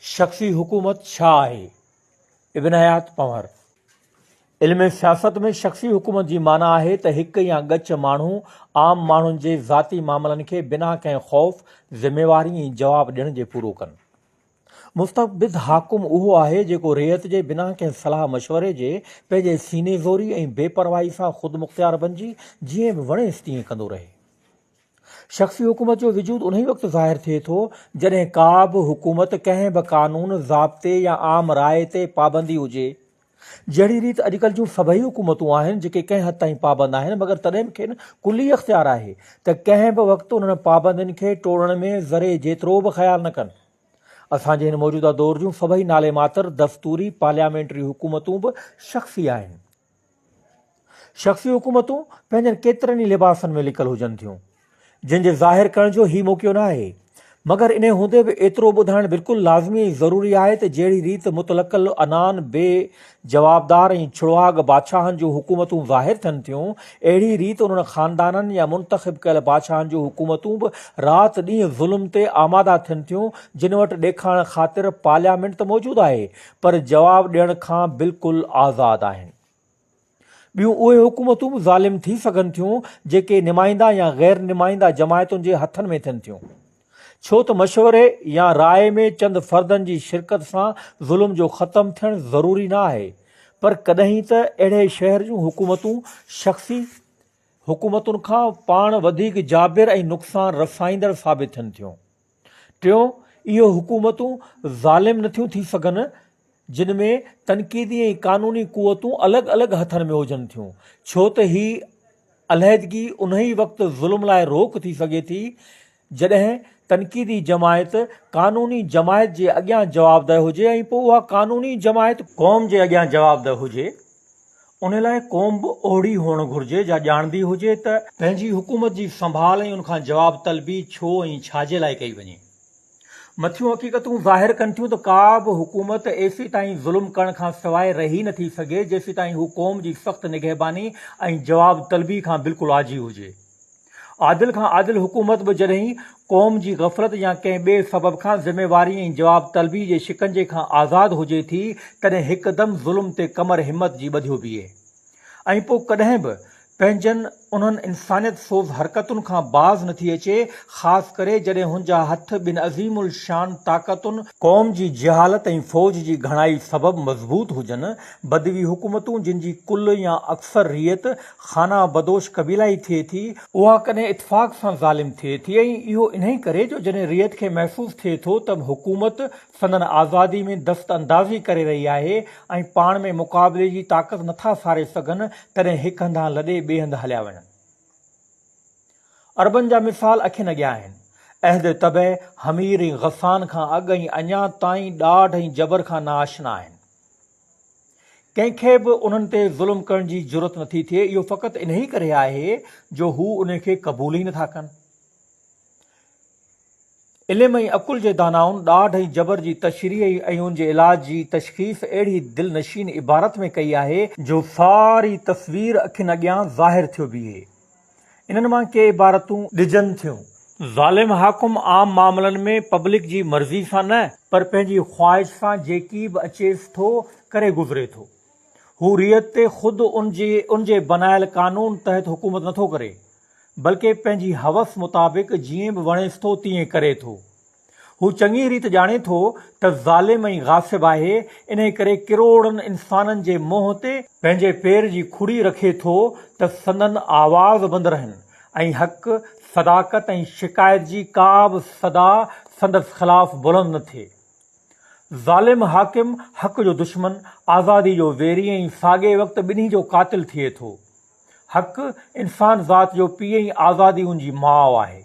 شخصي حڪومت ڇا آهي؟ ابن حيات پنهور، علم سياست ۾ شخصي حڪومت جي معنيٰ آهي ته هڪ يا ڳچ ماڻهو عام ماڻهن جي ذاتي معاملن کي بنا ڪنهن خوف، ذميواري ۽ جواب ڏيڻ جي پورو ڪن. مستبد حاڪم اهو آهي جيڪو رعيت جي بنا ڪنهن صلاح مشوري جي پنهنجي سيني زوري ۽ بي پرواهي سان خودمختيار بنجي جيئن به وڻيس تيئن ڪندو رهي. شخصي حڪومت جو وجود انهي وقت ظاهر ٿئي ٿو، جڏهن ڪا به حڪومت ڪنهن به قانون، ضابطي يا عام راء تي پابندي هجي. جهڙي ريت اڄڪلهه جون سڀئي حڪومتون آهن، جيڪي ڪنهن حد تائين پابند آهن، مگر تڏهن به کين ڪلي اختيار آهي ته ڪنهن به وقت انهن پابندين کي ٽوڙڻ ۾ ذري جيترو به خيال نه ڪن. اسان جي هن موجوده دور جون سڀئي نالي ماتر دستوري پارليامينٽري حڪومتون به شخصي آهن. شخصي حڪومتون پنهنجن ڪيترن ئي لباسن ۾ لڪل هجن ٿيون، جن جي ظاهر ڪرڻ جو هي موقعو ناهي، مگر انهي هوندي به ايترو ٻڌائڻ بلڪل لازمي ۽ ضروري آهي ته جهڙي ريت مطلق العنان بي جوابدار ۽ ڇڙواڳ بادشاهن جون حڪومتون ظاهر ٿين ٿيون، اهڙي ريت انهن خاندانن يا منتخب ڪيل بادشاهن جون حڪومتون به رات ڏينهن ظلم تي آماده ٿين ٿيون، جن وٽ ڏيکارڻ خاطر پارليامينٽ ته موجود آهي، پر جواب ڏيڻ کان بلڪل آزاد آهن. ٻيون اهي حڪومتون به ظالم ٿي سگهن ٿيون جيڪي نمائنده يا غير نمائنده جماعتن جي هٿن ۾ ٿين ٿيون. ڇو ته مشوري يا راء ۾ چند فردن جي شرڪت سان ظلم جو ختم ٿيڻ ضروري نه آهي پر ڪڏهن ته اهڙي شهر جون حڪومتون شخصي حڪومتن کان پاڻ وڌيڪ جابر ۽ نقصان رسائيندڙ ثابت ٿين ٿيون. ٽيون، اهو حڪومتون ظالم نه ٿيون ٿي سگهن جن ۾ تنقيدي ۽ قانوني قوتون الڳ الڳ هٿن ۾ هجن ٿيون، ڇو ته هي علحدگي انهي وقت ظلم لاء روڪ ٿي سگهي ٿي جڏهن تنقيدي جماعت قانوني جماعت جي اڳيان جوابده هجي ۽ پوء اها قانوني جماعت قوم جي اڳيان جوابده هجي. ان لاء قوم به اهڙي هئڻ گهرجي جا ڄاڻندي هجي ته پنهنجي حڪومت جي سنڀال ۽ ان کان جواب طلبي ڇو ۽ ڇاجي لاء ڪئي وڃي. مٿيون حقيقتون ظاهر ڪن ٿيون ته ڪا به حڪومت ايسيتائين ظلم ڪرڻ کان سواء رهي نه ٿي سگهي جيسيتائين هو قوم جي سخت نگهباني ۽ جواب طلبي کان بلڪل آجي هجي. عادل کان عادل حڪومت به جڏهن قوم جي غفلت يا ڪنهن ٻئي سبب کان ذميواري ۽ جواب طلبي جي شڪنجي کان آزاد هجي ٿي تڏهن هڪدم ظلم تي ڪمر همت جي ٻڌيو بيهي ۽ پوء ڪڏهن به پنهنجن انهن انسانيت سوز حرڪتن کان باز نه ٿي اچي خاص ڪري جڏهن هن جا هٿ ٻن عظيم الشان طاقتن قوم جي جهالت ۽ فوج جي گهڻائي سبب مضبوط هجن، بدوي حڪومتون جن جي ڪل يا اڪثر ريت خانه بدوش قبيلائي ٿئي ٿي، اها ڪڏهن اتفاق سان ظالم ٿئي ٿي ۽ اهو انهي ڪري جو جڏهن رعيت کي محسوس ٿئي ٿو ته حڪومت سندن آزادي ۾ دست اندازي ڪري رهي آهي ۽ پاڻ ۾ مقابلي جي طاقت نٿا ساري سگهن تڏهن هڪ هنڌان لڏي ٻئي هنڌ هليا وڃن. عربن جا مثال اکين اڳيان آهن. عهد طبع، حمير ۽ غسان کان اڳ ۽ اڃا تائين ڏاڍ ۽ جبر کان ناآشنا آهن. ڪنهن کي به انهن تي ظلم ڪرڻ جي جرئت نٿي ٿئي، اهو فقط انهيء ڪري آهي جو هو انهيء کي قبول ئي نٿا ڪن. علم ۽ عقل جي دانائن ڏاڍ ۽ جبر جي تشريح ۽ ان جي علاج جي تشخيص اهڙي دل نشين عبارت ۾ ڪئي آهي، جو ساري تصوير اکين اڳيان ظاهر ٿيو بيهي. انهن مان ڪي عبارتون ڏجن ٿيون. ظالم حاڪم عام معاملن ۾ پبلڪ جي مرضي سان نه، پر پنهنجي خواهش سان جيڪي به اچيس ٿو ڪري گذري ٿو هو رعيت تي خود ان جي ان جي بنايل قانون تحت حڪومت نٿو ڪري بلڪه پنهنجي حوس مطابق جيئن به وڻيس ٿو تيئن ڪري ٿو. هو چڱيء ريت ڄاڻي ٿو ته ظالم ۽ غاصب آهي، انهيء ڪري ڪروڙن انسانن جي منهن تي، پنهنجي پير جي کڙي رکي ٿو ته سندن آواز بند رهن ۽ حق، صداقت ۽ شڪايت جي ڪا به صدا سندس خلاف بلند نه ٿئي. ظالم حاڪم حق جو دشمن، آزادي جو ويري ۽ ساڳئي وقت ٻنهي جو قاتل ٿئي ٿو. حق، انسان ذات جو پيء ۽ آزادي ان جي ماء آهي.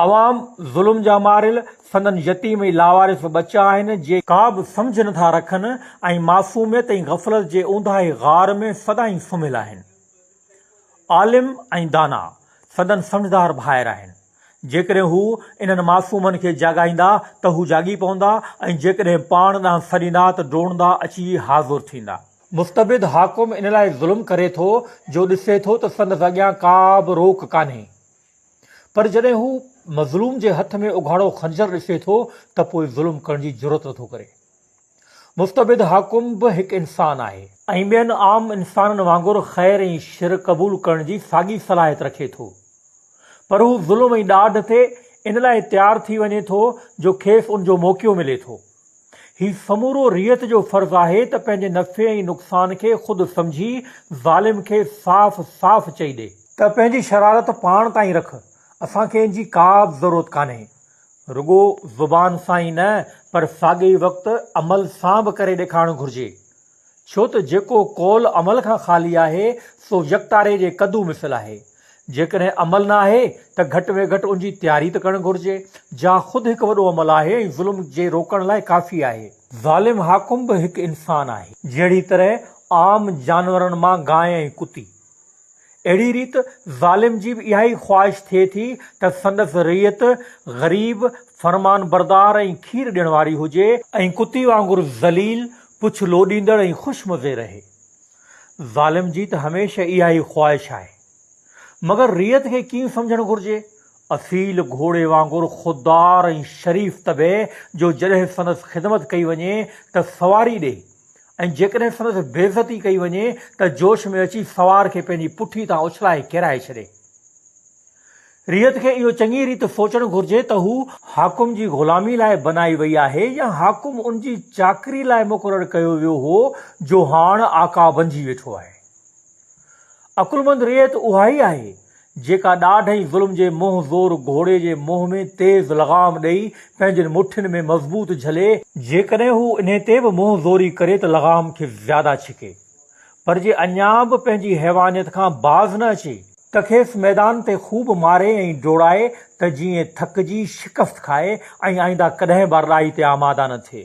عوام ظلم جا ماريل، سندن يتيم ۽ لاوارث ٻچا آهن، جي ڪا به سمجهه نه ٿا رکن ۽ معصوميت ۽ غفلت جي اونداهي غار ۾ سدائين سمهيل آهن. عالم ۽ دانا سندن سمجهدار ڀائر آهن. جيڪڏهن هو انهن معصومن کي جاڳائيندا ته هو جاڳي پوندا ۽ جيڪڏهن پاڻ ڏانهن سڏيندا ته ڊوڙندا اچي حاضر ٿيندا. مستبد حاڪم ان لاء ظلم ڪري ٿو جو ڏسي ٿو ته سندس اڳيان ڪا به روڪ ڪانهي. پر جڏهن هو مظلوم جي هٿ ۾ اگهاڙو خنجر ڏسي ٿو ته پوء ظلم ڪرڻ جي جرئت نٿو ڪري. مستبد حاڪم به هڪ انسان آهي. ۽ ٻين عام انسانن وانگر خير ۽ شر قبول ڪرڻ جي ساڳي صلاحيت رکي ٿو. پر هو ظلم ۽ ڏاڍ تي ان لاء تيار ٿي وڃي ٿو جو کيس ان جو موقعو ملي ٿو. هي سمورو رعيت جو فرض آهي ته پنهنجي نفعي ۽ نقصان کي خود سمجهي ظالم کي صاف صاف چئي ڏي. ته پنهنجي شرارت پاڻ تائين رک، اسان کي ان جي ڪابه ضرورت ڪانهي. رڳو زبان سان ئي نه پر ساڳئي وقت عمل سان به ڪري ڏيکارڻ گهرجي. ڇو ته جيڪو قول عمل کان خالي آهي سو يڪتاري جي ڪدو مثل آهي. جيڪڏهن عمل نه آهي ته گهٽ ۾ گهٽ ان جي تياري ته ڪرڻ گهرجي. جا خود هڪ وڏو عمل آهي ۽ ظلم جي روڪڻ لاء ڪافي آهي. ظالم حاڪم به هڪ انسان آهي. جهڙي طرح عام جانورن مان گانء ۽ ڪتي. اهڙي ريت ظالم جي به اهائي خواهش ٿئي ٿي ته سندس رعيت غريب، فرمانبردار ۽ کير ڏيڻ واري هجي، ۽ ڪتي وانگر ذليل، پڇ لوڏيندڙ ۽ خوش مزي رهي. ظالم جي ته هميشه اها ئي خواهش آهي. مگر رعيت کي ڪيئن سمجهڻ گهرجي؟ اصيل گهوڙي وانگر خوددار ۽ شريف طبع جو جڏهن سندس خدمت ڪئي وڃي ته سواري ڏئي ۽ جيڪڏهن سندس بيعزتي ڪئي وڃي ته جوش ۾ اچي سوار کي پنهنجي پٺي تان اڇلائي ڪيرائي ڇڏي. رعيت کي اهو چڱي ريت سوچڻ گهرجي ته هو حاڪم جي غلامي لاء بنائي وئي آهي يا حاڪم ان جي چاڪري لاء مقرر ڪيو ويو هو جو هاڻ آقا بنجي ويٺو آهي. عقلمند رعيت اها ئي آهي جيڪا ڏاڍ ۽ ظلم جي منهن زور گهوڙي جي منهن ۾ تيز لغام ڏئي پنهنجين مٺين ۾ مضبوط جهلي، جيڪڏهن هو انهي تي به منهن زوري ڪري ته لغام کي زياده ڇڪي، پر جي اڃا به پنهنجي حيوانيت کان باز نه اچي، ته کيس ميدان تي خوب ماري ۽ ڊوڙائي ته جيئن ٿڪجي شڪست کائي ۽ آئنده ڪڏهن به اراڙي تي آماده نه ٿئي.